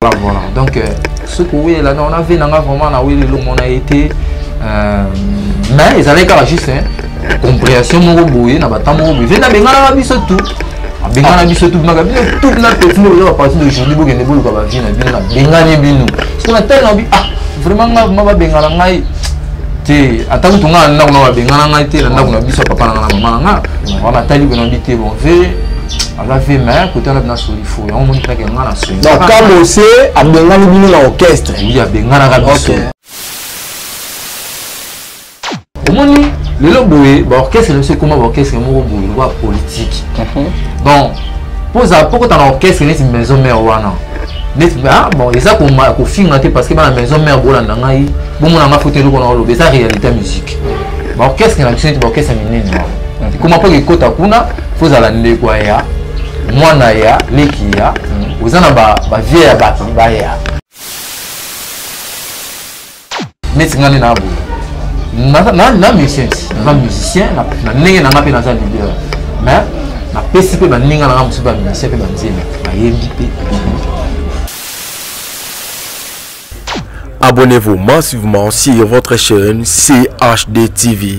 Voilà, voilà. Donc, euh, ce que oui, là, on avait vraiment la oui, on a été. Euh, mais ils avaient quand juste hein, compréhension mon boye, na batamo boye. Vena bengala biso tout. Bengala biso tout, na biso tout na techno là à partir d'aujourd'hui bo kende bolu ba vie na bino na bengani bino. Parce qu'on a tellement bi ah vraiment nga ma ba bengala ngai te ata kutu nga na kuna ba bengala ngai te na ndako na biso papa na nga na mama na nga. Wana tali bena bi te bon ve aza vie mais kote wana bina soli fo yango omoni kaka nga na soni donc kamose abengani bino na orchestre oui abenganaka biso omoni lelo boye baorchestre na biso ekoma baorchestre moko boye lokola politike mhm. bon poza pokota na orchestre neti maison mare wana neti ah, bon eza kofinga te parce que bana maison mare bolanda ngai bomona nga foto eloko na oloba eza réalité ya musique baorchestre na biso neti baorchestre minene wana ekoma mpo ekota kuna faut zala ndeko ya mwana ya leki ya mm. oza na ba ba vie ya bato baya neti ngai na boye na musicien na musicien na ndenge na ngai mpe naza leader mais napesi mpe baninga na ngai mosusu bamusicien mpe banzembe bayembi mpe Abonnez-vous massivement sur votre chaîne CHD TV.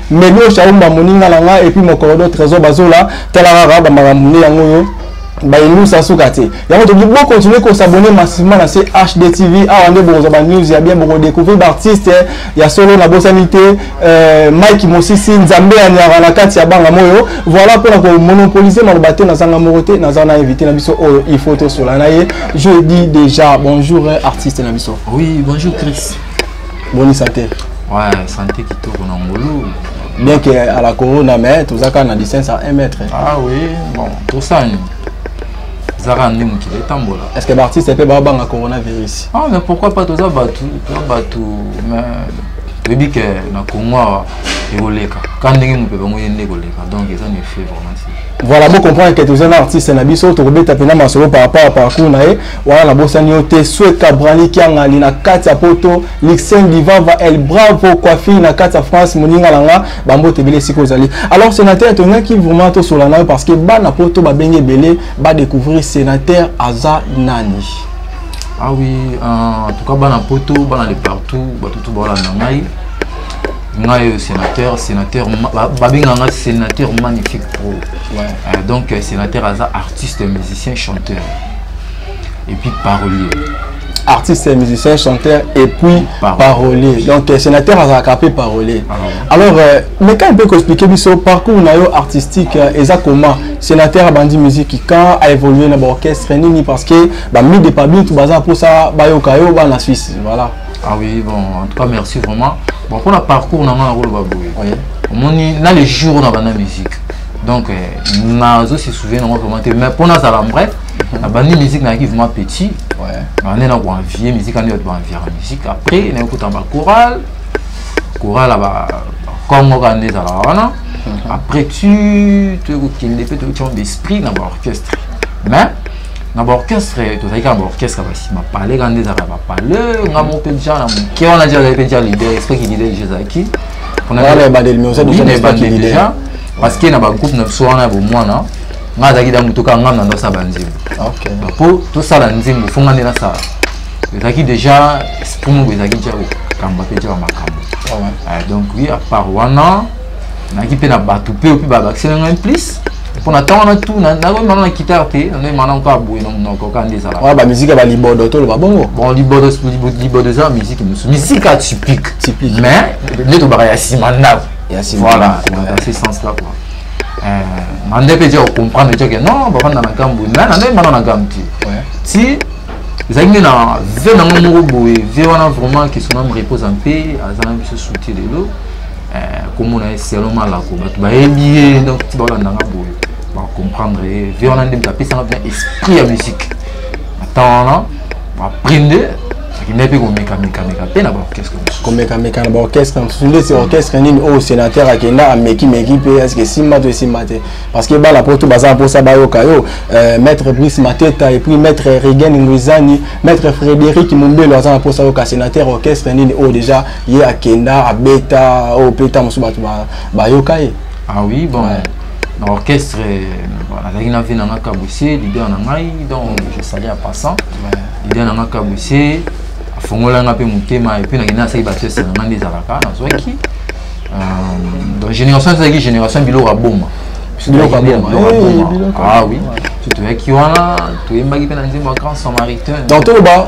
Melio Shaumba moninga na nga et puis mon corridor Trésor Bazola tala kaka ba makambo nde yango yo bayelusa suka te yango toki bo continue kosabone massivement na chd tv awa nde bokozwa banews ya bien bokodécouvrir baartiste ya solo na bosani te euh, mike mosisi nzambe ya nyaka na kati ya banga moyo voilà mpona komonopolise maloba te nazanga moko te naza na invité na biso oyo il faut tosola na ye je dis déjà bonjour artiste na biso oui bonjour chris boni sante ouais sante kitoko na ngulu bien que à la corona mais toza kaka na distance à 1 mètre ah oui bon tosani zaka nde mokili etambola est ce que baartiste mpe babanga coronavirus ah mais pourquoi pas toza bato toza bato mais toyebi ke na congo awa ekoleka ka ndenge mope bango ye nde ekoleka donc eza na effet vraiment voilà bocomprendre ke toza na artiste na biso tokobeta mpena masolo par rapport ya parcours na ye wana nabosani yo te sweka brani kiangani na kati ya poto lixen divava el bravo coiffi na kati ya france moninga na nga bambote ebele esika ozali alors sénateur tongaki vraiment tosola na yo parce que bana poto babenge ebele badécouvrir sénateur aza nani ah oui euh, en tout cas bana poto bana de partout bato tu baolanda ngai ngai euh, sénateur sénateur babenga ngai sénateur magnifique pro ouais. euh, donc euh, sénateur aza artiste musicien chanteur et puis parolier artiste musicien chanteur et puis parolier, parolier. donc euh, sénateur azalaka mpe parolier ah, ouais. alors euh, meka mpe koexplike biso parcours na yo artistique euh, eza comment sénateur abandi musique quand a évolué na baorchestre nini parce que bami de pabitu baza mposa bayoka yo bana suisse voilà ah oui bon en tout cas merci vraiment bon mpona parcours na ngai nakoloba boye omoni na le jour oyo na banda musique donc euh, nazo se souviens nango vraiment te mais mpo nazala vrai nabandi musique nayaki vraiment petit nande na koenvie musique ande bato baenviaka musique après naye kota bachoral choral ya bakongo kaka nde ezalaka wana mhm. après tu toye kokende mpe toyoki yango d'esprit na baorchestre mais na baorchestre tozalaki kaka baorchestre ya basima pale kaka nde ezalaka bapale nga moko mpe ja na moke wana ja azali mpe ja lider esprit ki lider je ezalaki On a Voilà, déjà- ebandeli, mais oza Oui, déjà na n'esprit ebandeli leader. déjà. parce que na bagroupe na biso wana ya bomwana ngai azalaki da moto kaka ngai na ndasa banzembo ok mpo tosala nzembo fo ngai nde nasala ezalaki déjà esprit moko ezalaki ja kokamba mpe ja bamakambo Ah ouais. Ah, donc oui à part wana nayaki mpe na bato mpe opi babakisela ngai plus mpo na ntango wana tu nakoyemana na kitare te nakoyemana kaka boye na monoko kaka nde ezalaka wana bamiziki ya balibodo toloba bongo bon libodo libodo eza miziki mosusu miziki ya typique typique mais nde tobaka ya nsima ndako ya nsima voilà dans ce sens là quoi na nde mpe tia kocomprendre tia ke non bafanda na nkambo mais na nde emana na nkambo te ti ezalaki nde na vie nango moko boye vie wana vraiment que son ame repose mpe aza na biso souti lelo eh, komona ye selon malako bato bayebi ye donc ti baolanda nga boye bacomprendre ye vie wana nde moto apesanga mpena esprit ya musique na temps wana baprinde akendaki mpe komekamekameka mpe na baorchestre mosusu komekameka na baorchestre mosusu nde se orchestre nini oyo oh, sénateur akenda amekimeki mpe eske esimba to esimba te parce que bana poto baza na mposa bayoka yo euh, maître brice mateta et puis maître regen nguizani maître frédéric mombelo aza na mposa yoka sénateur orchestre nini oyo oh, déjà ye akenda abeta oyo mpe ntango mosusu bato bayoka ye ah oui bon ouais. na orchestre nazalaki na vie na nga kabusie leader na ngai donc je sali a passant leader na nga kabusie afongola nga mpe motema epuis nakenda nasaki batiese na nga nde ezalaka nazwaki euh, donc génération ezalaki génération biloko aboma biloko aboma ah oui toyaki wana toyembaki mpe na nzembo ya grand samaritain donc toloba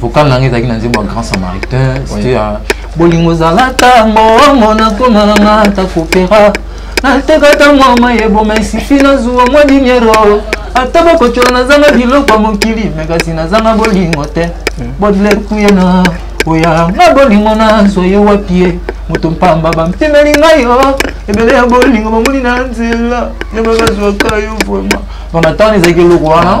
vocal na ngai ezalaki na nzembo ya grand samaritain c'était ya bolingo ezalaka mbongo nakoma na nga ata kopera natekata mwa mai eboma esifi nazuwa mwa diniero ata bakocola nazanga biloko ya mokili me kasi nazanga bolingo te bodler kuyena oya nga bolingo nazwa ye wapi ye moto mpamba bampimeli ngai yo oh. ebele ya bolingo bamoni na nzela nde bazwaka yo vraimen donc na ntango ezalaki eloko wana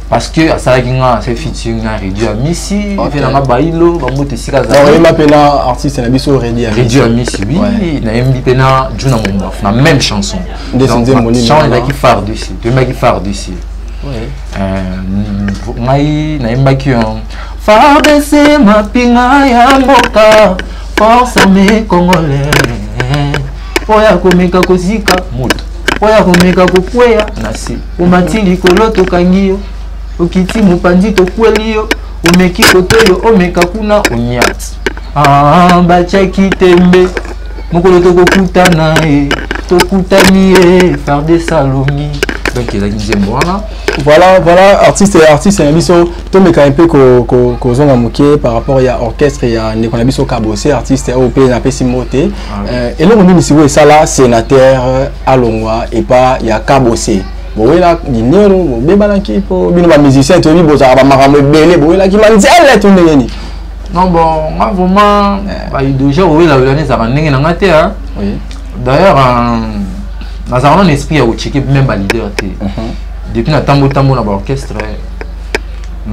parce que asalaki nga na se featuring na redio ya misi mpe na nga bailo bambote esika azalioyemba mpe na artiste na biso redio ya misi wi nayembi mpe na juna mombaf na même chanson chanson ezalaki phare du sud toyembaki phare du sud ngai nayembaki fardc mapinga ya mboka force ame congolais mpo ya komeka kozika moto mpo ya komeka kokweya na se omati likolo tokangi yo okiti mopanzi tokweli yo omeki kote oyo omeka kuna onyati ah, batyaki tembe mokolo tokokutana e tokutani e farde salongi donc ezalaki nzembo wana voilà voilà artiste ya artiste na biso tomeka mpe kozonga moke par rapport ya orchestre ya ndeko na biso kabose artiste oyo mpe napesi mbote Euh, eloko nini sikoyo esala sénateur euh, alongwa epa ya kabose bowela dinero bobebanaki mpo bino bamusicien toyebi bozalaka bamakambo ebele bowelaki manzele to ndenge nini non bon nga vraiment eh. baidoja owelawelani ezalaka ndenge na nga te d'ailleurs euh, nazalaka nano esprit ya kocheke même baleader te mhm. depuis natambo tambo na baorchestre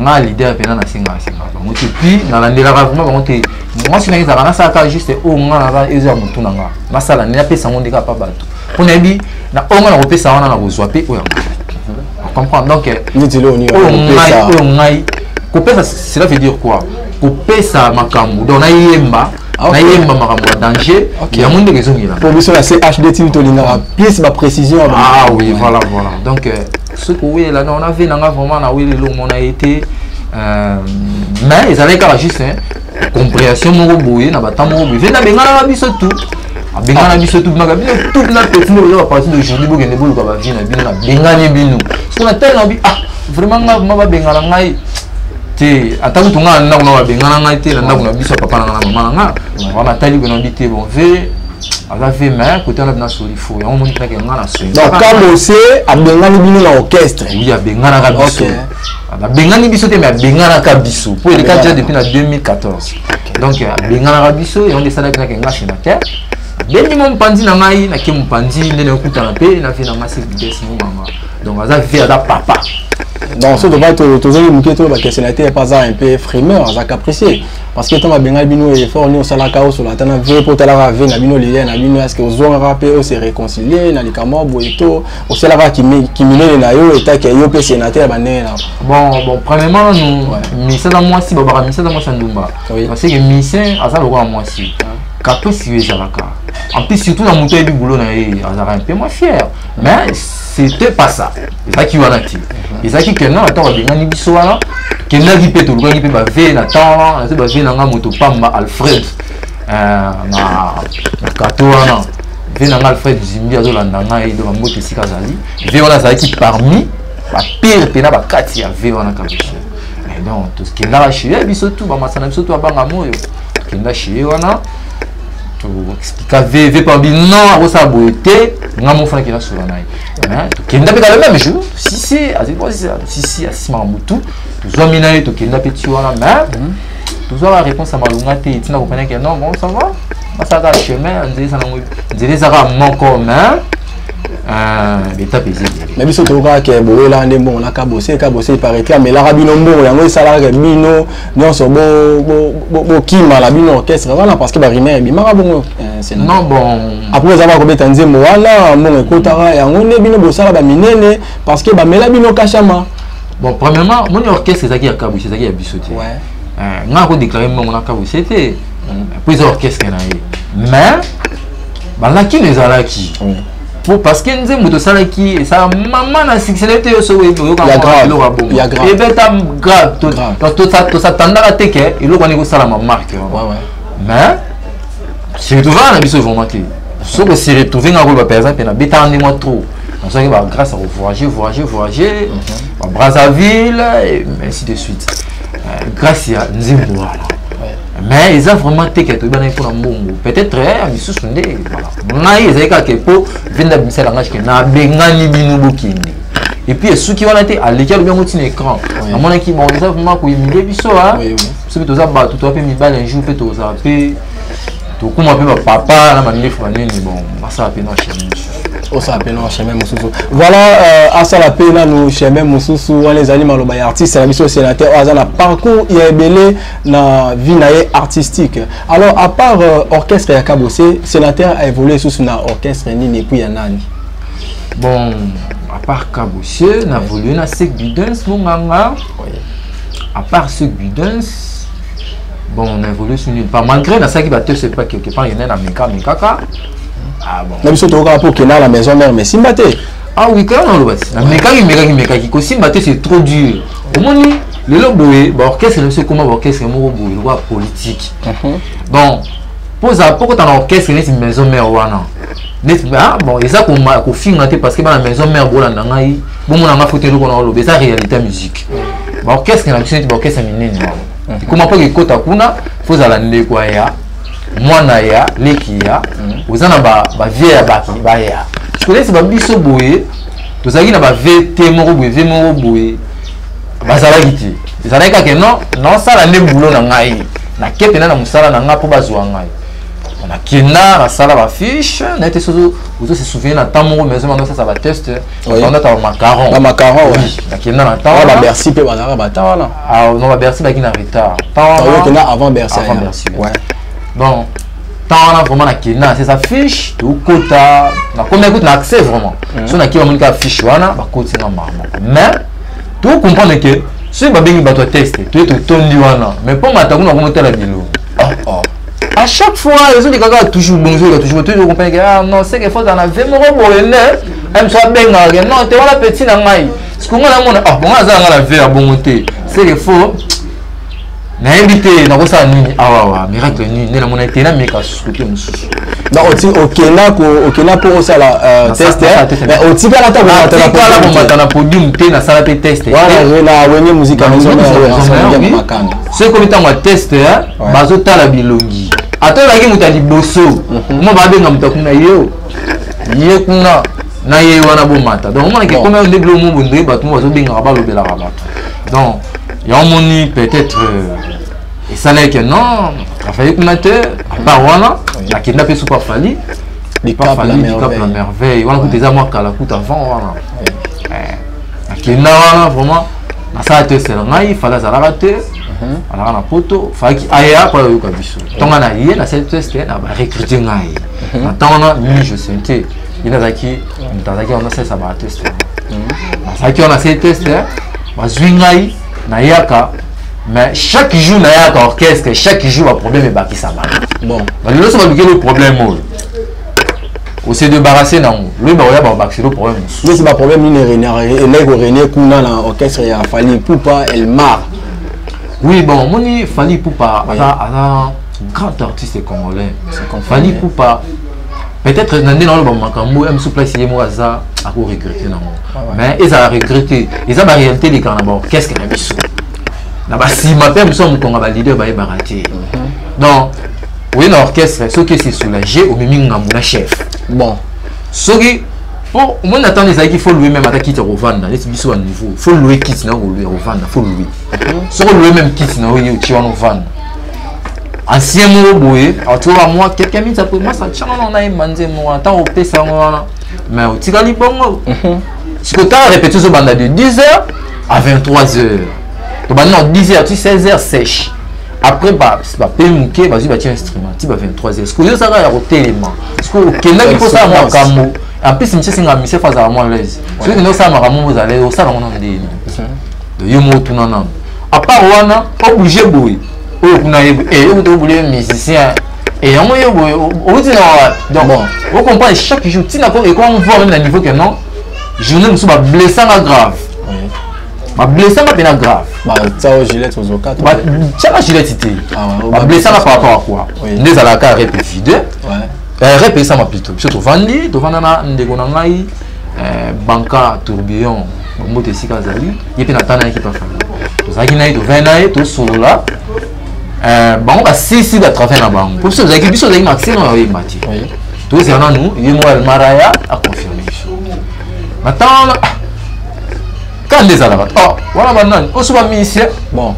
nga leader mpena nasengaka sengaka bango te puis nalandelaka vraiment bango te mwasi na ye ezalaka nasala kaka juste oyo oh, nga naza eza ya motu na nga nasala nini napesa yango nde kaka pa bato mpo nayebi na oyo oh, nga nakopesa wana nakozwa mpe oyo oh, comprendre donc oyo ngai kopesa cela veut dire quoi kopesa makambo donc nayemba Ah, nayemba makambo ya danger yango ndenge ezongela po biso na chd timi tolingaka plus baprécision ah oui voilà voilà donc euh, soki owelela non na vie na nga vraiment na weleli omona ye te euh, mais ezalaki kaka juste compréhension moko boye na bata moko boye ve nabenganaka biso tout abengana biso tout bimaka bino tout na petit moko oza baparti d'aujourd'hui bokende boluka bavie na bino nabengani bino soki na tali na bi ah vraiment nga ma babengana ngai te ata kutu ngai na ndako na babengana ngai te na ndako na biso ya papa na ngai na mama na ngai wana tali boye na bi te bon ve aza vie mais kote wana bina soli fo yango omoni kaka nga na soi donc kamose abengani bino na orchestre oui abenganaka biso abengani biso te mais abenganaka biso mpo eleka déjà depuis na 2014 donc abenganaka biso yango nde esalaki nake nga senateur abendi mo mopanzi na ngai nake mopanzi nde nakutana mpe na vie na ngai sevides mo mama donc aza vie aza papa donc soki tozali moke toyeba ke senateur mpe aza un peu frimeur aza capricier parce que ntango abengai bino effort nini osalaka osola ata na vie mpo otalaka vie na bino lilia na bino eske ozongaka mpe ose réconcilie na likambo ya boye to osalaka kiminene na yo etake yo mpe sénateur ya bandenge na bon bon premièrement nanu misala mwasi babaka misala mwasi ya ndumba parce que misin aza lokola mwasi caprice yo ezalaka en plus surtout na moto ayebi boulot na ye azalaka mpe mwa fière mais c'était pas ça ezalaki wana te ezalaki que non ntango abengani biso wana kendaki mpe tolukaki mpe bave na temps wana nazo bave na nga moto pamba alfred euh, na kato wana ve na nga alfred zimbi azolanda ngai donc mbote esika azali ve wana azalaki parmi bapire mpe na bakati ya ve wana kabisa donc tokendaka chez ye biso tu bamasana biso tu abanga moyo tokenda chez ye wana expliqua veve pabi non akosala boye te nga mofana kela sola na ye tokenda mpe kala meme jour sisi sisi asimaka motu tozwami na ye tokenda mpe ti wana mais tozwaka réponse ya malonga te etina kopena ke non bon ça va basalaka chemin nzela eza nango nzela ezaka moko mais betape eza ebele na biso tokokaka ke bowela nde mbongo na kabose kabose paraître amelaka bino mbongo yango esalaka ke bino nyonso bokima na bino orchestre wana parce que barimere ebimaka bongo eh, non bon après eza bakobeta nzembo wana mbongo ekotaka yango nde bino bosala baminene parce que bamela bino kashama bon premièrement moni orchestre ezalaki ya kabusi ezalaki ya biso te eh, nga akodeklare mbongo na kabusi te mpo eza orchestre na ye mais balakino ezalaki po parce que nzembo tosalaki esala mama na succès na yo te yo soki oyebi oyoka eloko ya bongo ebeta grave tosatandaka te ke eloko wana ekosalama marke mais siretrouva na biso vraiment te soki osiretrouve nga koloba mpenza mpe nabetaka nde mwa trop nazwaki ba grâce ya kovoyage voyage voyage ba brazzaville ainsi de suite euh, grâce ya nzembo wana mais eza vraiment te ke toyebanaki mpo na mbongo peut-être ya misusu nde voilà ngai ezali kaka ke mpo vende abimisaka ngai ke nabengani bino bokende epuis esuki wana te aleki alobi yango ntina écran amonaki bon eza vraimen koyimile biso a soki toza bato toza mpe mibale un jour mpe tozala mpe tokoma mpe bapapa na mandefu banini bon basala mpe na chaine mosusu osala mpe na chemin mosusu voilà euh, asala mpe nanu chemin mosusu wana ezali maloba ya artiste na biso sénateur oyo aza na parcours ya ebele na vie na ye artistique alors à part euh, orchestre ya kabose sénateur a évolué sous na orchestre nini epuis ya nani bon à part kabose na évolué na sek bidens monganga oui. à part sek bidens bon on a évolué sur nulle part malgré nasalaki bato c'est pas quelque part yene na meka mekaka ah, bon. na biso tokokaka mpo okenda na maison mère mais simba te ah oui kaka nalobasi namekaki mekaki mekaki kosimba te c'est trop dur omoni lelo boye baorchestre na biso ekoma baorchestre moko boye lokola politike mhm. bon poza pokota na orchestre neti maison mère wana neti ah, bon eza kofinga te parce que bana maison mère bolanda ngai bomona ngai foto eloko na oloba eza réalité ya musique baorchestre na biso neti baorchestre minene wana ekoma mpo ekota kuna fo ozala ndeko ya mwana ya leki ya mhm. oza na bavie ya baki baya sikonesi babiso boye tozalaki na bave te moko boye vie moko boye bazalaki te ezalaki kaka non naosala nde bulo na ngai nake mpena na mosala na ngai mpo bazwa ngai nakenda nasala bafiche na ete soki ozo se souvenir na temps moko maison bando sasa bateste bandaka bamacaron bamacaron nakenda na temps babercy mpe bazalaka bata wana ah, non babercy baki na retard okenda ah, avant bercy avant bercy donc temps wana vraiment nakenda sesa fiche tokota nakomi akuti na accès vraiment mhm. so nakima moni kaka fiche wana bakoti nga mama mais to comprendre que soki babengi bato ya texte toye totondi wana mais mpo mata kuna komotala bilo ah, ah. à chaque fois ezoli kaka toujours bongo ezolika toujours toyebi okomprendre ke ah non seke fo zana ve moko boye ne amso abengaka ke non te wana petit na ngai sikonga namona ah bongo aza na ngai na ve ya bongo te seke fo nayebi te nakosala nini awawa miracle nini nde namonaki te nameka susu te mosusu okenda okenda mpo osala euh, testontikala komata na podium te nasala mpe testewenge muzikamakanda soki komi ntango ya test bazotala bilongi ata oyaki moto ya liboso mhm. mo babenga moto akuna yo ye kuna na ye wana bomata donc omonake ekomi yo nde bilomo bondoi bato mo bazobengaka balobelaka bato donc yango omoni peut-être euh, esalaki ke non afali kuna te apart wana akenda mpe supa fali likap la merveille wana kuta eza mwa kala kuta avant wana akenda eh, wana vraiment nasala te esela ngai fali azalaka te mhm. alaka na poto falaki aya mpo ayoka biso ntonga na ye nasali teste na barecrute ngai mhm. na ntango wana mi je sentais bino azalaki moto azalaki wana asalisa bateste azalaki wana asali teste bazwi ngai nayaka mais chaque jour nayaka orchestre chaque jour baproblème ebakisama bon balelo so baluki lo problème oyo ose debarrasse nango loyi bakoya bakobakisa lo problème mosusu losi baproblème nini elai korenie kuna na orchestre ya fali pupa elmar oui bon omoni fali pupa aza grand artiste congolais fali pupa peut-être na nde naoloba makambo ya mosusu place ye moko aza ako regrete nango ah mais ezala regrete eza baréalité elekaka na baorchestre na biso na basima mpe mosusu ya mokonga baleader bayebaka te mhm. donc oye na orchestre soki ese soulage omemi ngambo na chef bon soki mpo omoni na ntango ezalaki fo loue meme ata kiti ya kovanda neti biso banouveau fo loue kiti na yo kolue ya kovanda fo loue mhm. soki olue meme kiti na yo ye otie wana ovanda ancien moko boye atoka mwa quelques minutes après mwasi atyanga ngo na ye manze moko wana ntango opesa yango wana mais otikali bongo mhm. sikoyo ntango repeti ozobanda de 10 heures à 23 heures tobandi na 10 heures ti 16 heures sèche après bape moke bazwi batya instrument ti ba 23 heures sikoyo ozaka ya kotelema sikoyo okendaki kosala makambo en plus misie esenga misie fo azala mwa laise soki okendaki kosala makambo moko ozala osala yango nano ndeni yo moko tuna nano apart wana oblige boye oyo kuna eyekuta eh, obule musicien et yango yo boye outi na wapi donc ocomprendre chaque jour ntina ko ekoma voir meme na niveau que non journée mosusu bablessanga grave bablessanga mpena grave batiaka gilette te bablessanga par rapport à quoi nde ezalaka rep vide eh, rep esama plutôt biso tovandi tovanda na ndeko na ngai eh, banka tourbillon moto esika azali ye mpe natana yaki pa famille tozalaki na ye tovai na ye tosolola euh, bango basisi batravers na bango mpo biso tozalaki biso tozalaki maxima na oyemba te tozela nanu ye moko almaraya aconfirme biso natana kaka nde ezalaka wana banani oso bamisie bon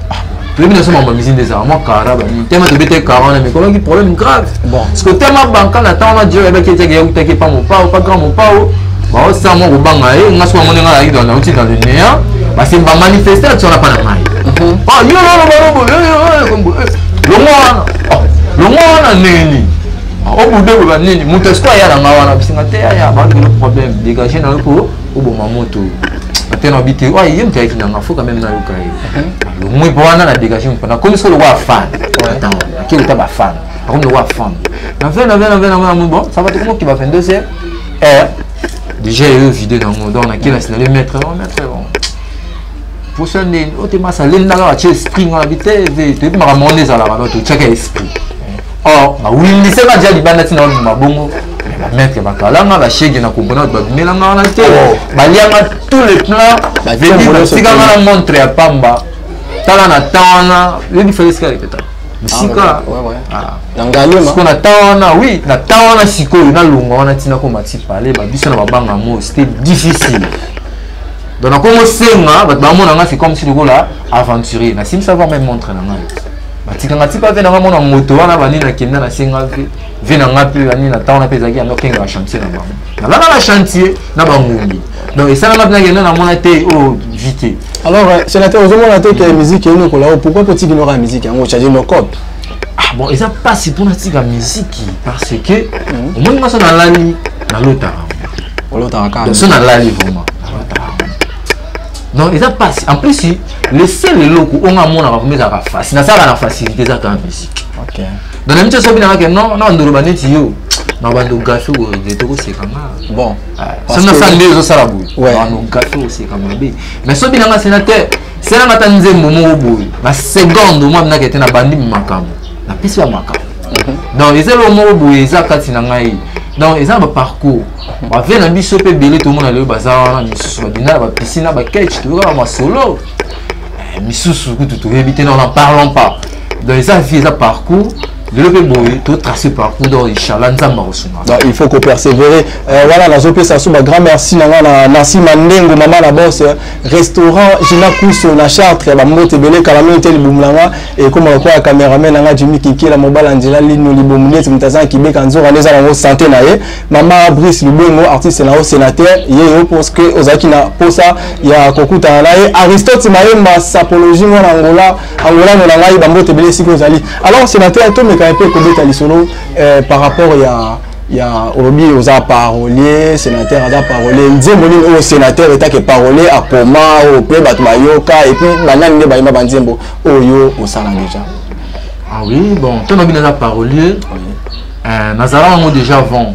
toyebi naso mambo ya mizini ezala mwa kara banini tema tobete kara wana mikolaki problème grave bon parce que tema banka na ntango wana jeo yabaki etiaki yakutaki epa mopao pa grand mopao baosa mwa kobanga ye nga soki bamoni nga nayaki dans nauti dans le néant basi bamanifeste ati wana mpa na ngai yo lolo balobo longo wana longo wana ndenge nini obude boba nini moto esiko aya na ngai wana bisinga te yaya baoyo problème dégage na yo ko oboma moto ate na bite oyo ye moto ayaki nanga fo quand même nayoka ye lomwe mpo wana na dégage mpo nakomi solo wa fan atango akei kota bafan akomi lokola fan na fin na fin na fin na fin bon ça va tokomi okiba 22 heures eh, déjà eyo vide nango donc nakei na sinale maître oh, maître bon posa nde otema salendaka batye esprit nga na bite toyebi makambo ngo nde ezalaka donc totyaka esprit or bawindisema ja libanda ntina babima bongo maître bakalanga bashege na comprena bato babimelanga wana te oh. balianga tous les plans batikanga na montre ya pamba tala na temps wana yebi fale esika répéta bisika ah, siko na temps wana oui na temps wana sikoyo nalonga wana ntina koma ti pale babiso na babanga mo c'était difficile donc nakomosenga bato bamona nga c'est comme si lokola aventurier nasimisa voir même montre na ngai batikanga ti pave na ngai mona moto wana bani nakenda nasenga ve vie na ngai mpe nani na ntango na mpe ezalaki yango okengaka chantier na bango nalala na chantier na bangombi donc esalama mpe nakende namona te oyo oh, vi te alors euh, sénateur ozomona te ke musique eyini okola o oh, pourquoi mpo otiki noka musique yango ocharge nocope ah bon eza mpasi mpo natika miziki parce que mhm. omoni ngai so nalali nalotaka olotaka kaka so nalali vraiment donc eza mpasi en plus le seul eloko onga amonaka vraimen ezalaka facile nasalaka na facilité eza kaka musique donc na miso soki nanga ke non na bandoloba neti yo na bando gafe oye tokoseka nga bon ah, soki nasala nde ezosala boye bando gafe oseka mabe mais soki nanga sénateur selanga ata nzembo moko boye na seconde omwa minaka ete nabandi makambo napesi ya makambo mhm. donc eza eloko moko boye eza kati na ngai donc eza na baparcours bavie na biso mpe ebele tomona lelo baza wana misusu babinda na bapisina baketch toyokaka masolo eh, misusu kutu toyebi te na na parlons pas donc eza vie eza parcours lelo mpe boye totrace parcours donc inchallah nzambe akosunga donc il faut kopersévérer euh, wana nazopesa so bagrand merci na ngai na nasi mandengo mama na bos euh, restaurant gina kuso na chartre ya bambote ebele kala mingi te libumu na ngai ekoma lokola ya cameraman na ngai jimi kinkela mobala nzela lino libumu neti moto aza na kibeka nzoka nde eza nango sante na ye mama brice lubengo artiste na yo sénateur ye yo parce que ozalaki na mposa ya kokutana na ye aristote mayemba sapologie mwana angola angolano na ngai bambote ebele esika ozali alors sénateur tomeka mpe kobeta lisolo eh, par rapport ya ya olobi oza parolier sénateur aza parolier nzembo nini oyo sénateur etake parolier akoma oyo mpe bato bayoka epuis banani nde bayemba banzembo oyo osala déjà ah oui bon to nabi naza parolier euh, nazala yango déjà avant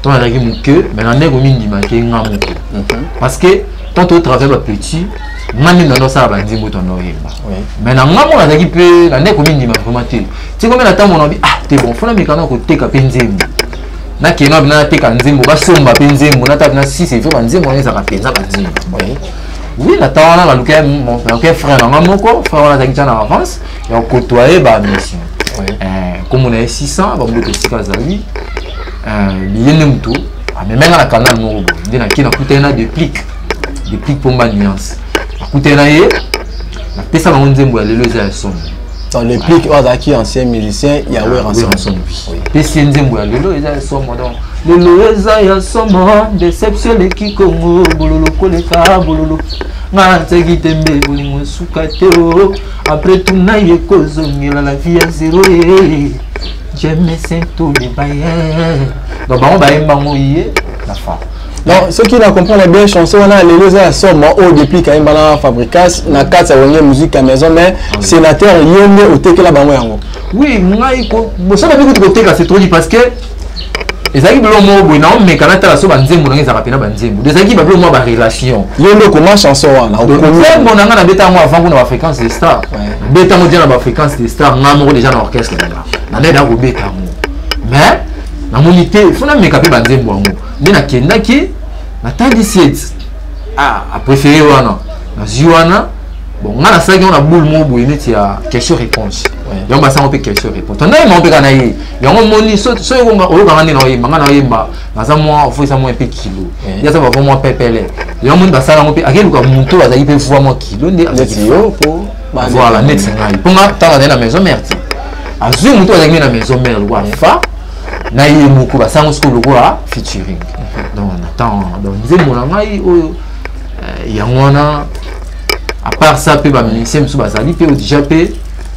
to nazalaki moke mais na ndenge omindimaki nga moke mhm. parce que tant totravaille bapetit nga nde nando asala banzembo to ando oyemba mais na nga mona azalaki mpe na nde komindima vraiment te tiko mpe na ntango nabi ah te bon fona mikano ya koteka mpe nzembo nakende wapi nateka nzembo basomba mpe nzembo natala na sisi efo banzembo wana ezalaka mpenza banzembo oui na ntango wana nalukaki frère na nga moko frère wana azalaki tya na avance ya kokotoye ba mission nkombo na ye 600 bamboto esika azali eh, liye nde moto amemengana canal moko boye nde nakei nakutani na deplique depuis pomba nuance akutana na ye napesa bango nzembo ya lelo eza ya somo dans le plic oyo azalaki ancien musicien ya weranson pesi ye nzembo ya lelo eza ya somo donc lelo eza ya somo deception eleki kongo bololo koleka bololo nga nseki te mbe bolingo esuka te o apres tuna ye kozongela la vie ya zero ye jemesento le baye donc bango bayembango ye na fa non soki na comprendre bien chanson wana lelo eza ya somo oyo depuis kayemba na fabricas na kati ya wenge musique ya maison mais ah sénateur yo nde otekela bango yango oui ngai bosana mpe kutu koteka c'est trop dit parce que ezalaki biloko moko boye na omeka natala so banzembo nanga ezalaka mpena banzembo ezalaki babiloko mwa barelation yo nde okoma chanson wana nzembo na ngai nabeta yango avant kuna bafréquence de star beta yango deja na bafréquence de star ngai moko deja na orchestre nanga nandai nakobeta yango mais namoni te fo nameka mpe banzembo yango nde nakendaki natandi siete ah, apréféré wana nazwi wana bon ngai nasalaki yango na boule moko boye neti ya question réponse yango basango mpe question réponse tanda yemba mpe kaka na ye yango omoni so oyokanga nde na oyemba ngai na oyemba naza mwa ofo eza mwa mpe kilo ye aza bava mwa pepele yango omoni basala yango mpe akeluka moto oyo azalaki mpe voi mwa kilo nde voilà neti ngai mpo nga ntango azali na maison mère te azwi moto azalaki nde na maison mère lokola fa na ye moko basango sikoyo lokola featuring donc na ntango wana donc nzembo na ngai oyo eh, yango wana à part ça mpe bamusicien mosusu bazali mpe odija mpe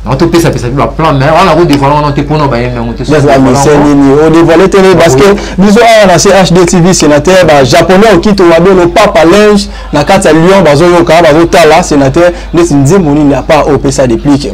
yango topesapesa mpe baplan mais wana kodevoile wana te mpona bayembi yango temisnini odevoile te ne parce que biso awa na chd tv sénateur bajaponais okito wabelo papa linge na kati ya lyon bazoyoka bazotala sénateur neti nzembo nini apart opesa deplique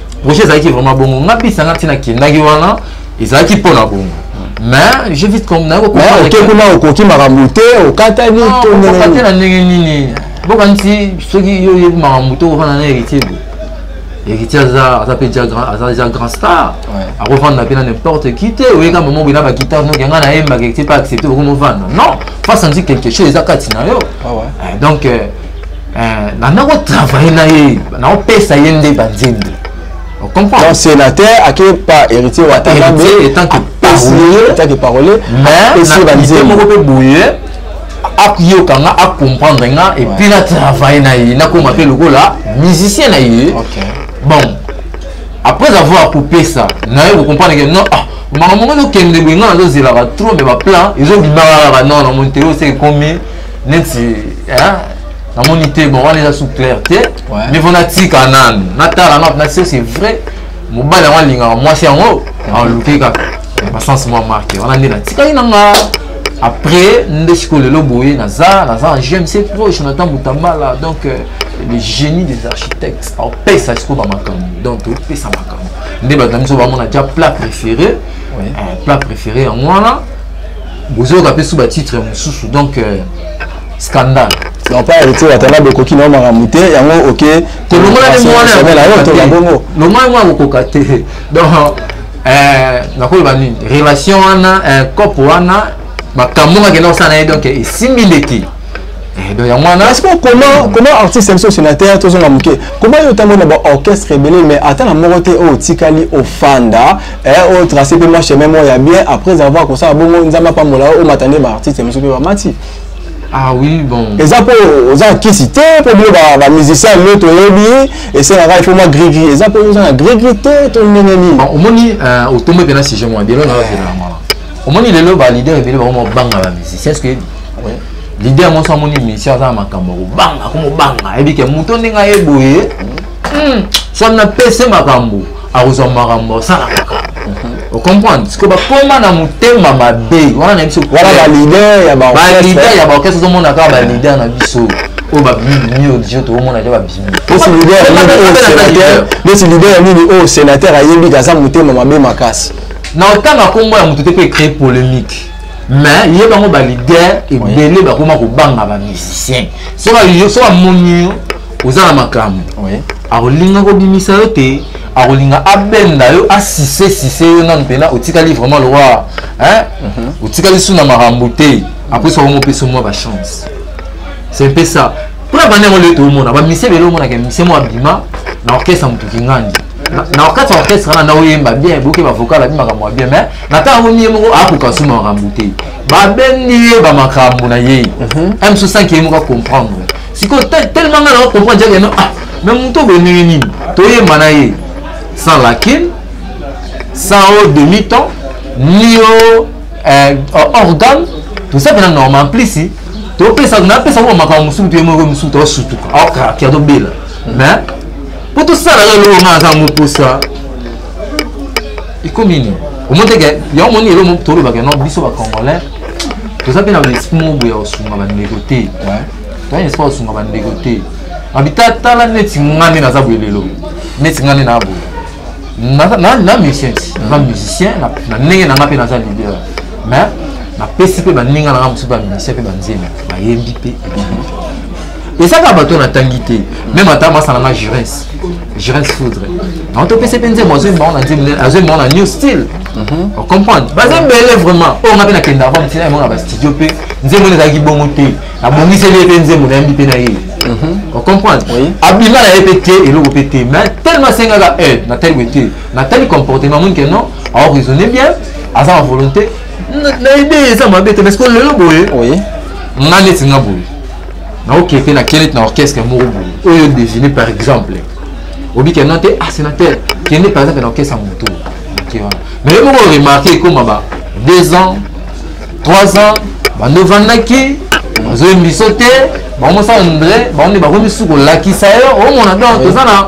projet ezalaki vraiment bongo nga bisa nga ntina kendaki wana ezalaki mpo na bongo mais je vite comme nayo oke kuna okoki makambo te okatani tokate na ndenge nini bokanisi soki yo oyebi makambo te okofanda na héritier boye héritier aza aza mpe aza deja grand star akofanda mpe na n'importe qui te oyeka mama boye na bakitar noki yanga nayembaka héritier mpe accepte bokomofanda non fa sentir quelque chose eza kati na yo ah eh, donc euh, Euh, nana kotravaille na ye naopesa ye nde banzembo donc sénateur ake pa héritier watangambe apesi ye etake parole apesi ye banzembo moko mpe boye akoyoka nga acomprendre nga epuis na travaille na ye nakoma mpe lokola musicien na ye bon après avoir kopesa naye kocomprendre ke non ah makambo ngo nokende boye nga nazozelaka trop me baplan ezobimaka kaka non na monteo se ekomi neti hein? namoni te bon wana eza sous clair te mais mpo natika nanu natala nanu nase c'est vrai mobali yango alingaka mwasi yango aluke kaka basense mwa marke wana nde natikaki na nga après nde sikoyo lelo boye naza naza na gmc pro jonathan mutambala donc euh, le génie des architectes opesa sikoyo bamakambo donc topesa makambo nde bato na biso bamona ja plat préféré euh, plat préféré yango wana bozoyoka mpe su batitre mosusu donc euh, scandale non pas héritier watana bokoki nao makambo te yango oke tolongola nde mwanalongola mwana akokoka te donc euh, nakoloba nini relation wana euh, cope wana makambo ngaki na kosala na ye donc esimbi ndeki eh, donc yango wana est-ce que comment comment artiste biso sénateur tozonga moke comment yo otambola na baorchestre ebele mais ata na moko te oyo otikali ofanda eh oyo oh, trace mpe mwa chemin moko ya bien après avoir kosala bongo nzambe apambola yo omata nde baartiste mosusu mpe bamati ah oui bon eza mpo oza na kisi te mpo bino bamusicien lio toyebi esengaka ifo mwa grigri eza mpo oza na grigri te to ndenge nini omoni euh, otombi mpe na sujet mwa delo naozela mwana omoni lelo baleader ebele bango mobanga bamusicien ce que leader monso amoni musicien aza na makambo ya kobanga komobanga ayebike moto ndenge aye boye hmm. so na pese makambo akozwa makambo asala ocomprendre siko bakoma na motema mabe wana na biso wana balider ya balider ya baorchestre ozomona kaka balider na biso oyo babimi oyo dijo toomona te babimi neti lider ya nini oyo sénateur ayembi te aza motema mabe makasi na otanga nkombo ya moto te mpe ecree polémique mais ye bango balider ebele bakoma kobanga bamusicien soki amoni yo oza na makambo akolinga kobimisa yo te akolinga abenda yo asise sise yo nanu mpena otikali vraiment lokola mhm. otikali su na makambo te apres okomo opesa mwa bachance c'est mpe ça mpona banda yango leo toomona bamise bele omonaka mise mwa abima na orchestre moto kingandi na orchestre orchestre wana na oyemba bien boke bavocal abi makambo ya bien mais na ntango yango miye moko akoka su makambo te babendi ye bamakambo na ye mhm. mso sanki ye moko acomprendre sikoyo tellement nga nao comprendre jake no ah me moto oboye ndenge nini toyemba na ye sans lakin sans o demi temps ni o eh, organe toza mpena normal mplisi topesa napesa ngo makambo mosusu toye moko mosusu tosutuka aokaki atobela mais mpo tosala yo eloko nga naza moposa ekomi nini omoteke yango moni elo tolobaka no biso bacongolais toza mpe na baesprit moko boye ya kosunga bandeko te toyani esika osunga bandeko te abita tala neti nga nde naza boye lelo neti nga nde naa boye na musicien naza musicien na ndenge na nga mpe naza leader mais napesi mpe baninga na nga mosusu bamusicien mpe banzembe bayembi mpe ezaka bato natangi te meme ata masana na jurens jurens foudre yango topesi mpe nzembo azoyemba yango na nzembo azoyemba yango na new style mhm. ocomprendre baza ebele vraiment oyo nga mpe nakenda avant ntina yango na bastudio mpe nzembo ezalaki bongo te abongiseli ye mpe nzembo nayembi mpe nayini mhm. ocomprendre abima na ye mpe te eloko mpe te mais tellement asengaka aide eh, natali boye te natali comportement moni ke non aoraisonne bien aza na volonté na ide eza mabe te parce que lelo boye nga neti nga boye naokee mpe na kelete na orchestre moko boye oyo devine par exemple obi ke non te ah sénateur kende par exemple na orchestre ya motu mais yo moko remarke ekoma ba deux ans 3 ans bando vandaki bazoyembi biso te bango mosala ndre bango nde bakomi su kolakisa yo omona donc toza na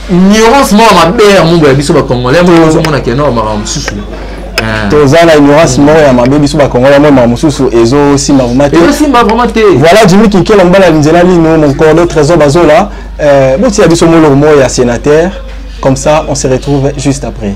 ignorance moko mabe ya mumbu ya biso bacongolais yango eh. ozomona kenor makambo mosusu eh. toza na ignorance moko ya mabe biso bacongolais yango makambo mosusu ezosimba vraimen te ezosimba vraimen te voilà jimi kinkela mobala ya nzela lino mon cordo trésor bazola eh, botia biso moloko moko ya sénateur comme ça on se retrouve juste après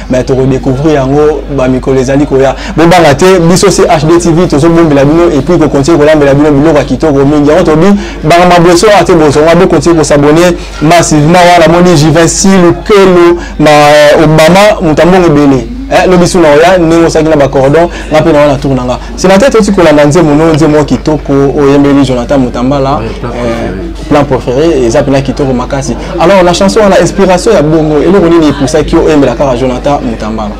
mais tokodécouvrir yango bamikolo ezali koya bobanga te biso se hd tv tozobombela bino epuis kokontinue kolambela bino biloko ya kitoko mingi yango tobi banga maboso wana te bozonga bokontinue kosabone massivement wana moni jivinci lukelo ma euh, obama moto ya mbongo ebele eh, lobi suna oya ndenge osaki na bacordon nga mpe na wana tour na nga Sénateur toti kolanda nzembo no nzembo kitoko oyembeli Jonathan Mutambala euh, plan préféré eza pena kitoko makasi alors la chanson wana inspiration ya bongo eloko nini epusaki yo oyembela kaka Jonathan Mutambala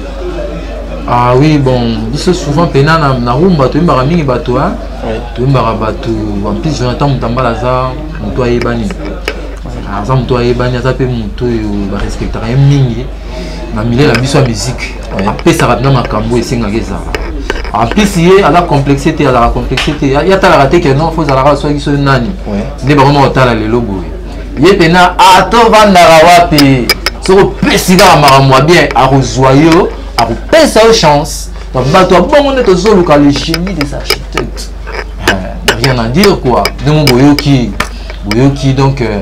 ah oui bon biso souvent pena na, na rumba toyembaka mingi bato hein? oui. toyembaka bato en plus Jonathan Mutambala aza moto ayebani aza moto ayebani aza mpe moto oyo barespectaka ye mingi na milieu na biso ya musique apesaka mpe na makambo esengaka ezala en plus ye aza complexe te azalaka complexe te ye atalaka te ke non fo ozalaka soki soki nani nde bango ma otala lelo boye ye mpena atovandaka ah, wapi soki opesi kaka makambo ya bien akozwa yo akopesa yo chance bato ya bongo nde tozoluka le génie des architectes eh, rien à dire quoi ndenge boyoki boyoki donc euh,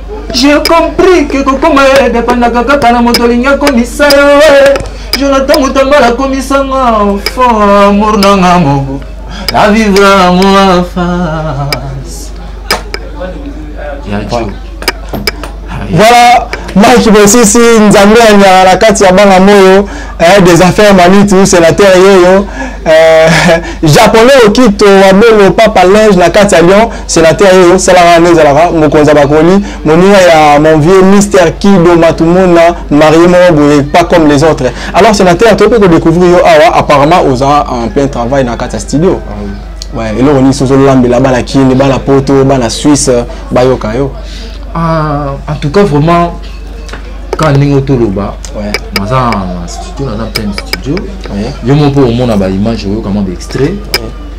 J'ai compris que kokoma yo edependaka kaka na moto olingi akomisa yo eh. jonathan mutambala akomisa nga fo amour na nga moko na vivre amour en face ya jo voilà mike bosisi nzambe ya nyala na kati ya bana moyo eh, des affaires manitu sénateur yeyo eh, japonais okito wabelo papa linge na kati ya lyon senateur oyo salaka wana ezalaka mokonzi ya bakoli moninga ya mon vieux mister kido matumona marie moko boye pas comme les autres alors senateur toyebi kodécouvrir yo awa apparemment oza en plein travail na kati ya studio ah eloko nini soki ozolambela bana kini bana poto bana suisse bayoka yo ah, en tout cas vraiment kaka ndenge otoloba naza na studio naza plein studio yo moko mpo omona baimage oyoka mwa baextrait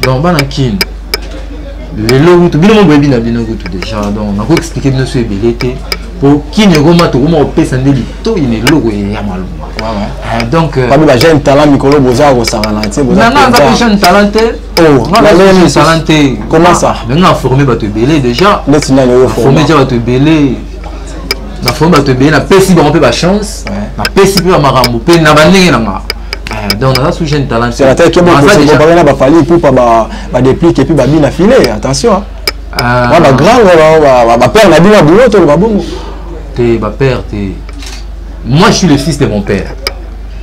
donc bana kini lelo kutu bino mo boyebi na bino kutu deja donc nako explike bino so ebele te po kini ekoma tokoma kopesa nde litoi na eloko ya malonga ah, donc euh, babi bajeune talent mikolo boza kosakana te nanga aza pe jeune talent te oh, jeune talent te comment ça ah, nanga aforme bato ebele déjà neti nani oyo forme deja bato ebele na forme bato ebele napesi bango mpe bachance napesi mpe bamakambo mpe na bandenge na ngaa Eh, donc naza sous jeune talent c'est attaque moi c'est bon bana ba fali pour pas ba ba déplique et puis ba bina filet attention ah ba ah. grand ba ba père na bina boulot to ba bongo te ba père te moi je suis le fils de mon père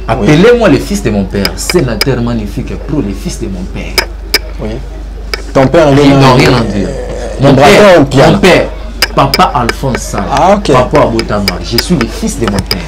appelez-moi le fils de mon père sénateur magnifique pro le fils de mon père oui ton père il n'a rien à dire euh, mon père mon père papa Alphonse ah, okay. papa Abotama je suis le fils de mon père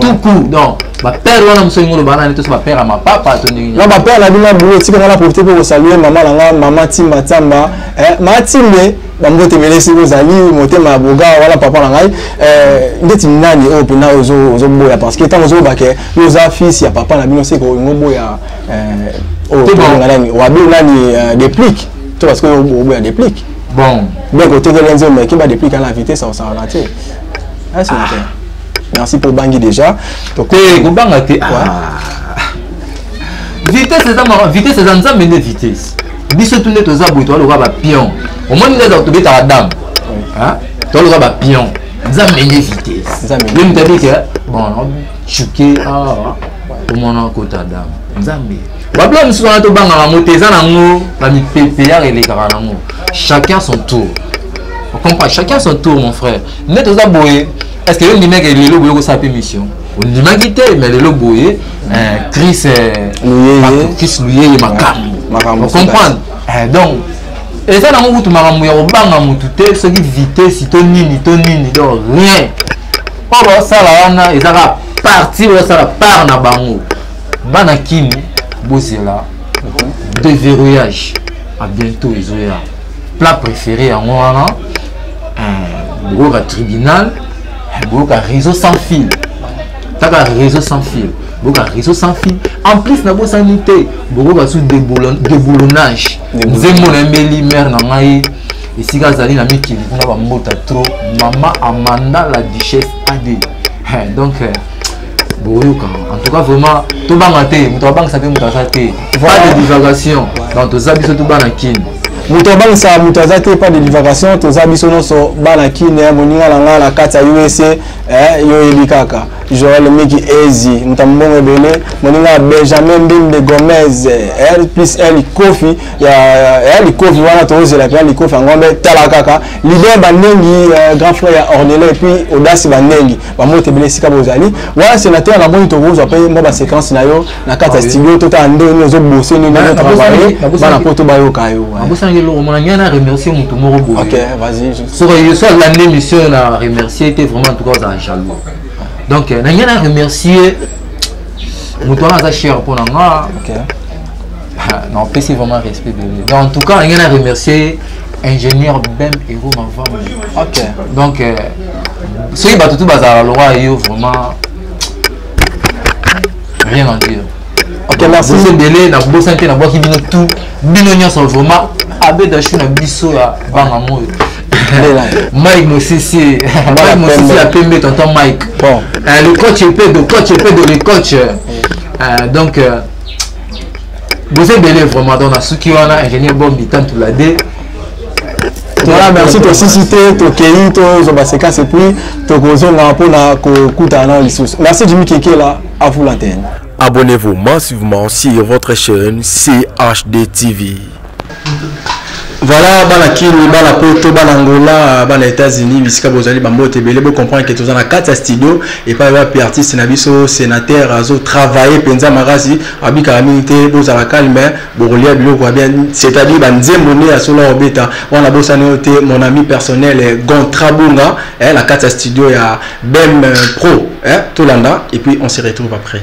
tout court donc bapere wana mosoki ngo loba nani toso bapere ya mapapa to ndenge na bapere na bino bulo etika nga na profite mpe kosalue mama na nga mama timba tiamba eh, mama timbe bambote ebele soki ozali motema ya boga wana papa na ngai eh, ndeti nani oyo mpena ozoboya parce que ntango ozoloba ke yo oza fils ya papa na bino seke olingo boya eh, oyo tobenga nani wabe nani deplique to parce que oboya deplique bon donc otekeli nzembo ekeba deplique ana vitesse osalana te ah, ah. merci mpo obangi déjà te kobanga te ah. vitesse eza maka vitesse eza nzambe nde vitesse biso tu nde toza boye toza lokola bapion omoni nde tobetaka dame toza lokola bapion nzambe nde vitesse ye moto abike bon chuke awa omona kota dame nzambe babila mosusu wana tobangaka yango te eza nango bamipepe yaka elekaka nango chacun son tour okompa chacun son tour mon frère nde toza boye est ce que yo ndimaki lelo boye kosala mpe mission ondimaki te mais lelo boye eh, chris eh, chris luyeye makambo ocomprendre eh, donc eza nango kutu makambo ya kobanga motu te soki vitesi to nini to nini donc rien oyo baosala wana eza kaka parti baosala part na bango bana kini bozela mhm. deverrouillage a bientôt ezoya plat préféré yango wana hmm, bokoyoka tribunal bokoyoka réseau sans fil kaka réseau sans fil boka réseau sans fil en plus nabosani te bokoka su déboulonnage nzembo na embeli mare na ngai esika azali na mikili kuna bambota trop mama amanda la duchesse ade donc euh, boyoka en tout cas vraiment tobanga te moto abangisa mpe moto aza te pas de divagation donc toza biso to bana kin moto abangisa moto aza te pas de divagation toza biso nyonso bana kin eh, moninga na ngai na kati ya usa eh, yo oyebi kaka joel miki ezi moto ya mobongo ebele moninga ya benjamin mbimbe gomez eh, plus ya likofi ya likofi wana tozela mpe ya likofi yango mpe tala kaka lider bandengi grand frère ya ornele epuis odasi bandengi bambote ebele esika bozali wana senateur namoni tokozwa mpe mwa baséquence na yo na kati ya ah studio totala ndenge nini ozobose nini ozotravaille bana poto bayoka yo abosanaki eloko mona ngai na remercie moto moko boyesoki so alandi émission na remercie te vraiment entoutcas ozala jaloux donc na ngai na remercie moto wana aza cher mpo na nga napesi vraiment respect bebe donc en tout cas na ngai na remercie ingénieur bem ero mavambo ok donc euh, soki bato tu bazala lora yo vraiment rien en dire okay, merci ebele na bosan te nabwaki bino tout bino nyonso vraiment abedashu na biso ya banga moyo mike mosisi mike mosisi ya pembe tonton mike bon. euh, le coach epedo coach epedo le coach euh, donc euh, boza ebele vraiment donc nasuki wana ingénieur bombi tantula de voilà merci tosisi te tokei tozwa basequence epuis tokozonga mpona kokutana nao lisusu merci jimi kekela avula tene abonnez-vous massivement sur votre chaîne chd tv Voilà, bana Kini, bana Poto, bana Angola, bana États-Unis, bisika bozali bambote ebele bo comprendre que tozana kati ya studio et pas wapi artiste na biso sénateur azo travailler penza makasi abika mingi te bozala calme bokolia biloko ya bien c'est-à-dire ba nzembo ne ya solo obeta wana bosani yo te mon ami personnel eh, Gontra Bunga eh, na kati ya studio ya BEM Pro eh, tolanda et puis on se retrouve après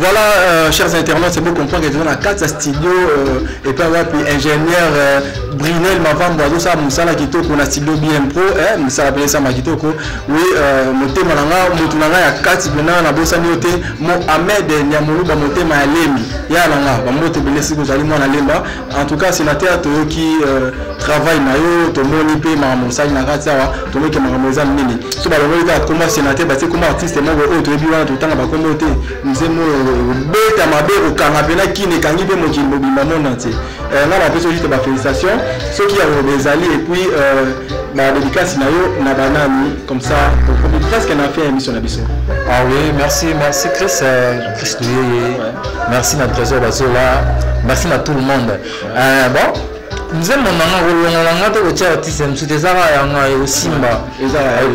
Voilà, euh, chers internautes, c'est bon comprendre que nous avons 4 studios euh, et puis wapi ingénieur euh, Brinel Mavambo azo sa musala kitoko na studio BM Pro eh musala pele sa makitoko oui euh, motema na nga mutu na nga ya kati bena na bosani yote Mohamed Nyamuluba motema ya Lembi ya na nga ba moto bele siku zali mwana Lemba En tout cas, sénateur, toyoki euh, travail na yo, tomoni pe makambo osali na kati awa, tomoni ke makambo eza minene. So balongoli kaka koma sénateur, batie koma artiste moko oyo toyebi wana totanga bakombo te. Mzee moyo obeta mabe okanga pena kini ekangi pe mokili mobimba monde entier. Euh, nga napesi yo juste ba félicitations. Soki ya koloba ezali et puis euh, ba dédicace na yo na banani comme ça tokomi presque na fin ya émission na biso. Ah oui, merci, merci Chris. Euh, Christo yeye. Merci na Trésor Bazola. Merci na tout le monde. Euh, bon, mzembo na nga kolongola nga te kotya artiste ya mosusu te eza kaka yanga osimba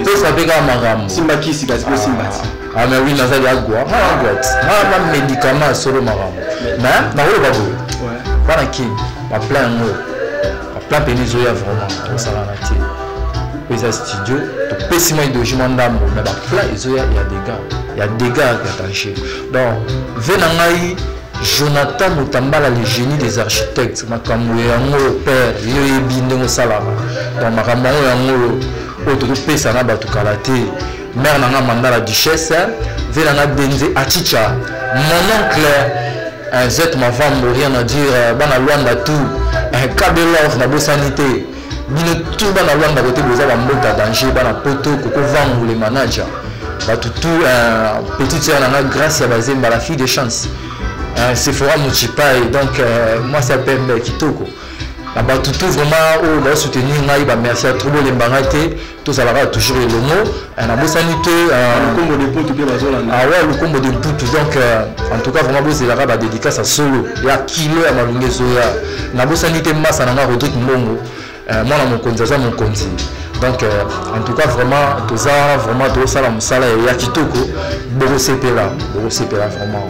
pesa mpe kaka makambo simba kisi kasi mpe simba ti ame wi nazali agwa nga agwa ti nga na médicament ya solo makambo mais nakoloba boye bana kini baplan yango plat pene ezoya vraiment osalaka te mpo eza studio topesi mwa ideologie mwa ndambo me baplat ezoya ya degat ya degat ya danger donc ve na ngai jonathan motambala le génie des architectes makambo yango père yo oyebi ndenge osalaka donc makambo yango yango oyo tokopesa na bato kala te mère na nga manda la duchesse vie na nga denze achicha mon oncle eh, zet mavambo rien à dire eh, bana luanda tout eh, kabelov na bosani te bino tout bana luanda kote boza bambota danger bana poto koko vangu le manager bato tout petite sœur na nga grâce ya bazemba la fille de chance sephora mochipai donc mwasi ya pembe kitoko na bato tout vraiment oyo baosoutenir ngai bamercier trop bolemba ngai te tozalaka toujours elongo eh, nabosani te eh, ah, lukombo de mputu mpe bazolanda awa lukombo de mputu donc eh, en tout cas vraiment bozelaka badédicace ya solo ya kilo ya malongi ezoya nabosani te masa na nga rodrik mbongo mwana mokonzi aza mokonzi donc en tout cas vraiment toza vraiment tozosala mosala ya kitoko bokosepela bokosepela vraiment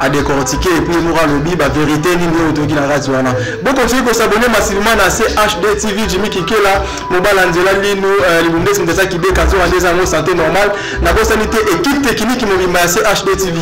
a décortiquer et puis moko alobi ba vérité nini oyo toyoki na radio wana bokontinue kosabone masilima na chd tv jimi kikela mobala nzela lino euh, libumbesi moto aza kibeka nzoka nde eza yango santé normal nabosani te équipe technique mobimba ya chd tv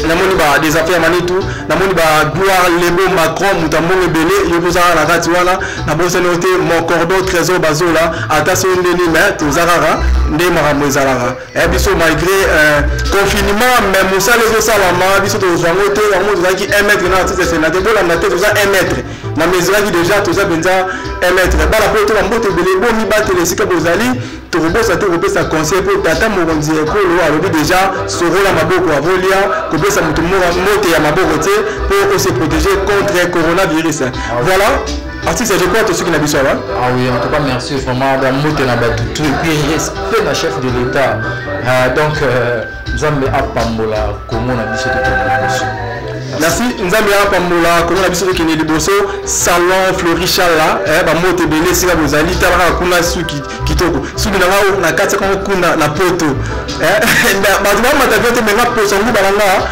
namoni ba des affaires manitu namoni ba gloire lembo macron moto ambongo ebele yo mpe ozalaka na kati wana nabosani yo te mon cordon trésor bazola ata soki nde nini me toza kaka nde makambo ezalaka Eh, biso malgré euh, confinement mais mosala ezosalama biso tozwa yango te yango tozalaki 1 mètre na artiste senate bolanda te toza 1 mètre na mesuraki déjà toza mpenza 1 mètre bala mpo toka mbote ebele bomibatela esika bozali tokobosa te kopesa conseil mpo tata mokonzi ya ekolo alobi déjà sorola maboko avolia kopesa moto mbote ya maboko te mpo ose protéger contre coronavirus voilà Artiste ya Joko tosuki na biso awa. Ah oui, en tout cas merci vraiment ba mbote na ba tout et puis respect na chef de l'état. Ah donc euh, Nzambe apambola Congo na biso tout na biso. Merci Nzambe apambola Congo na biso tokende liboso salon Florichala eh ba mbote ebele sika bozali talaka kuna suki kitoko suki na ngao na kati ya kuna na poto eh bato bamata vyote menga poso nguba na ngaa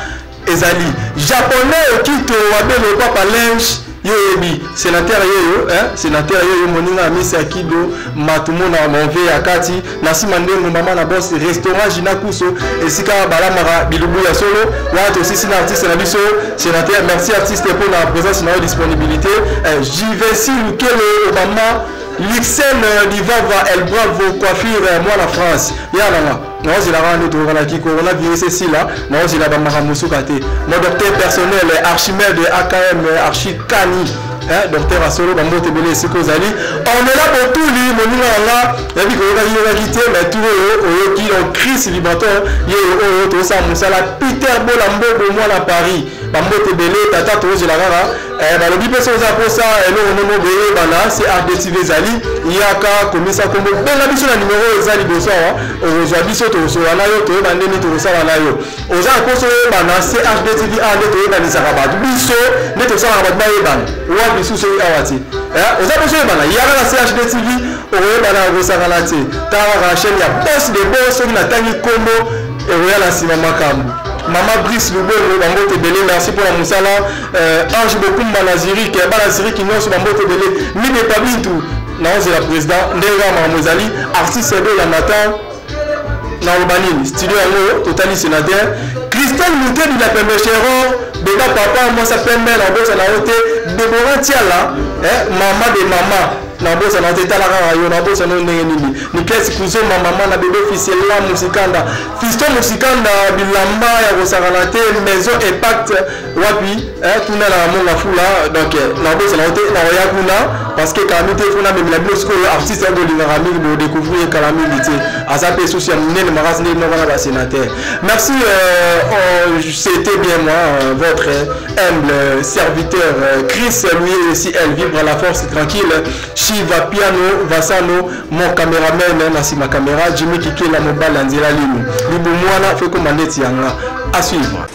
ezali japonais okito wabelo papa linge yo oyebi senateur yeyo eh? senateur yeyo moninga amisi ya kido matumona monve ya kati na nsima ndengo mama na bos restaurant jina kuso esika balamaka bilubu ya solo wana tosisi na artiste na biso senateur merci artiste mpo na présence na yo disponibilité eh, jvc lukele obama lixel livava el bravo coiffure mwana france yananga naozela kaka nde toyokana kikolo na virus esila naozela bamakambo suka te mo docteur personnel archimede akm archikani eh, docteur asolo bambote ebele esika ozali ornela botuli moninga na nga yabi koyokaki yokaki te mai tu oyo oyoki donc chris libaton ye oyo tozosala mosala peter bola mbobo mwana paris bambote ebele tata tozozela kaka Eh, balobi mpe soki oza mposa eloko ndenge boyebana crdtv ezali yaka komisa nkombo benga biso na nimero oyo eza liboso awa okozwa biso tokosola na yo toyeba ndeni tokosala na yo oza na mposa oyebana crdtv awa nde toyebanisaka bato biso nde tosalaka bato bayebana wa bisu soki awa te eh, oza mposa oyebana yaka na crdtv okoyebana kosangana te tangaka na chaîne ya bos de bo soki natangi nkombo ekoya na nsima makambo mama brise lubongo bango te ebele merci mpo na mosala Euh, ange bokumba na zurike ya bana zurike nyonso bambote ebele mine epa bintu naozela président ndenge kaka makambo ezali artiste ebe ya matin naloba nini studio yango totali sénateur christel mutedi la pembe cheron beba papa mwasa pembe na bosa na yo te debora tiala eh, mama de mama nabosana te tala kaka yo nabosana yo ndenge nini nikesi kuzomba mama na bebe fisela musikanda fisto musikanda bilamba ya kosakana te maison impact wapi eh, tuna na monga fula donc eh, nakobosana yo te nakoya kuna parce que kala mingi te fo namemela bino sikoyo artiste yango olingaka mingi bodecouvrir ye kala mingi te aza mpe susu ya monene makasi ndenge moko na basénateur merci euh, oh, c'était bien moi euh, votre humble serviteur euh, chris lui aussi elle vibre à la force tranquille shiva piano vasano mon cameraman na nsima camera jimmy kikela mobali ya nzela lino libu mwana fekoma neti yanga à suivre